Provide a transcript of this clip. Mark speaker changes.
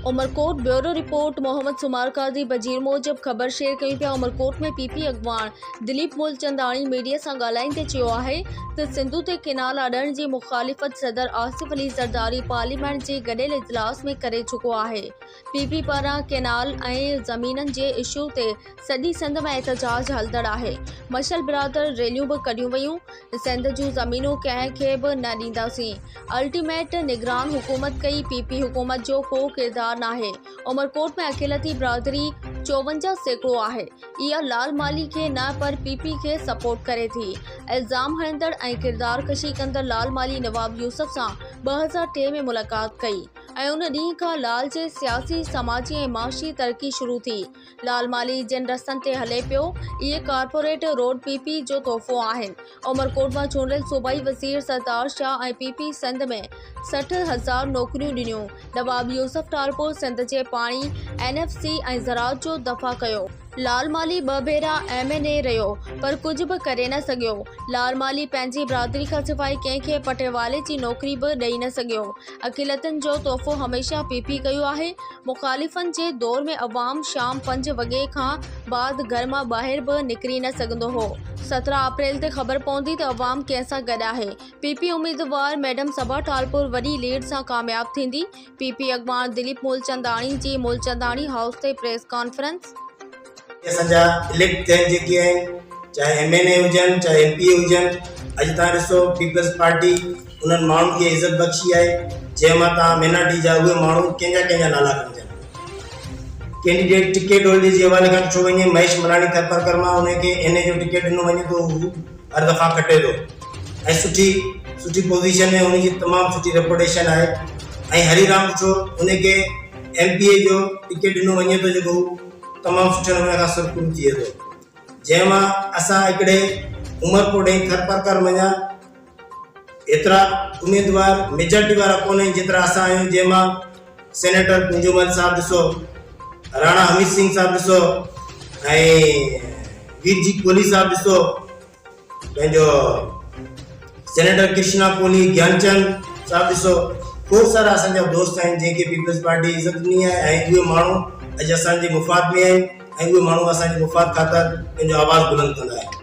Speaker 1: Umerkot, bureau report, Muhammad Soomar Qazi وزير موجب خبر شيئر ڪيون پيا عمرڪوٽ ۾ پي پي اڳواڻ دليپ مولچنداڻي ميڊيا سان ڳالهائيندي چيو آهي ته سنڌو تي ڪئنال اڏڻ جي مخالفت صدر آصف علي زرداري پارليامينٽ جي گڏيل اجلاس ۾ ڪري چڪو آهي پي پي پاران ڪئنال ۽ زمينن جي اشو تي سڄي سنڌ ۾ احتجاج هلندڙ آهي مشل برادر ريليون به ڪڍيون ويون سنڌ جون زمينون ڪنهن کي به نه ڏينداسين الٽيميٽ نگران حڪومت ڪئي پي پي حڪومت جو ڪو ڪردار ناهي عمرڪوٽ ۾ اقليتي برادري چوونجا سيڪڙو آهي اها لال مالهي کي نه پر پي پي کي سپورٽ ڪري ٿي الزام هڻندڙ ۽ ڪردار ڪشي ڪندڙ لال مالهي نواب يوسف سان ٻه هزار ٽي ۾ ملاقات ڪئي ۽ ان ڏينهن کان لال جي سياسي سماجي ۽ معاشي ترقي شروع ٿي لال مالهي جن رستن تي هلي پيو، اهي ڪارپوريٽ روڊ پي پي جو تحفو آهن، عمرڪوٽ مان چونڊيل صوبائي وزير سردار شاهه ۽ پي پي سنڌ ۾ سٺ هزار نوڪريون ڏنيون، نواب يوسف ٽالپر سنڌ جي پاڻي، اين ايف سي ۽ زراعت جو دفع ڪيو. لال مالهي ٻه ڀيرا ايم اين اي رهيو پر ڪجهه به ڪري نه سگهيو، لال مالهي پنهنجي برادري کان سواء ڪنهن کي پٽيوالي جي نوڪري به ڏئي نه سگهيو، اقليتن جو تحفو هميشه پي پي ڪيو آهي، مخالفن جي دور ۾ عوام شام پنج وڳي کان بعد گهر مان ٻاهر به نڪري نه سگهندو هو، سترهن اپريل تي خبر پوندي ته عوام ڪنهن سان گڏ آهي، پي پي اميدوار ميڊم صبا ٽالپور وڏي ليڊ سان ڪامياب ٿيندي، پي پي اڳواڻ دليپ مولچنداڻي جي مولچنداڻي هائوس تي پريس ڪانفرنس. اسان
Speaker 2: جا اليڪٽ ٿيل جيڪي آهن چاهي ايم اين اي هجن چاهي ايم پي اي هجن اڄ تان ڏسو پيپلز پارٽي انهن ماڻهن کي عزت بخشي آهي جنهن مان تان مينارٽي جا اهي ماڻهو ڪنهن جا ڪنهن جا نالا کڻجن ڪينڊيڊيٽ ٽڪيٽ هولڊر جي حوالي کان ڏٺو وڃي مهيش ملاڻي ٿرپر ڪرما انهن کي اين اي جو ٽڪيٽ ڏنو وڃي ٿو هو هر دفعا کٽي ٿو ۽ سٺي سٺي پوزيشن ۾ هن جي تمام سٺي ريپوٽيشن آهي ۽ هري رام ڏٺو انهن کي ايم پي اي جو ٽڪيٽ ڏنو وڃي ٿو جيڪو تمام سٺي نموني کان سرخرو ٿئي ٿو جنهن مان اسان هڪڙي عمر پور ڏينهن ٿر پرڪر مڃيا هيترا اميدوار ميجارٽي وارا ڪونهن جيترا اسان آهيون جنهن مان سينيٽر ڪنجومل صاحب ڏسو راڻا حميد سنگھ صاحب ڏسو ۽ وير جي ڪولي صاحب ڏسو پنهنجو سينيٽر ڪرشنا ڪولهي گيان چند صاحب ڏسو کوڙ سارا اسان جا دوست آهن جن کي پيپلز پارٽي عزت ڏني آهي ۽ اهي ماڻهو اڄ اسان جي مفاد ۾ آهن ۽ اهي ماڻهو اسان جي مفاد خاطر پنهنجو آواز بلند ڪندا آهن.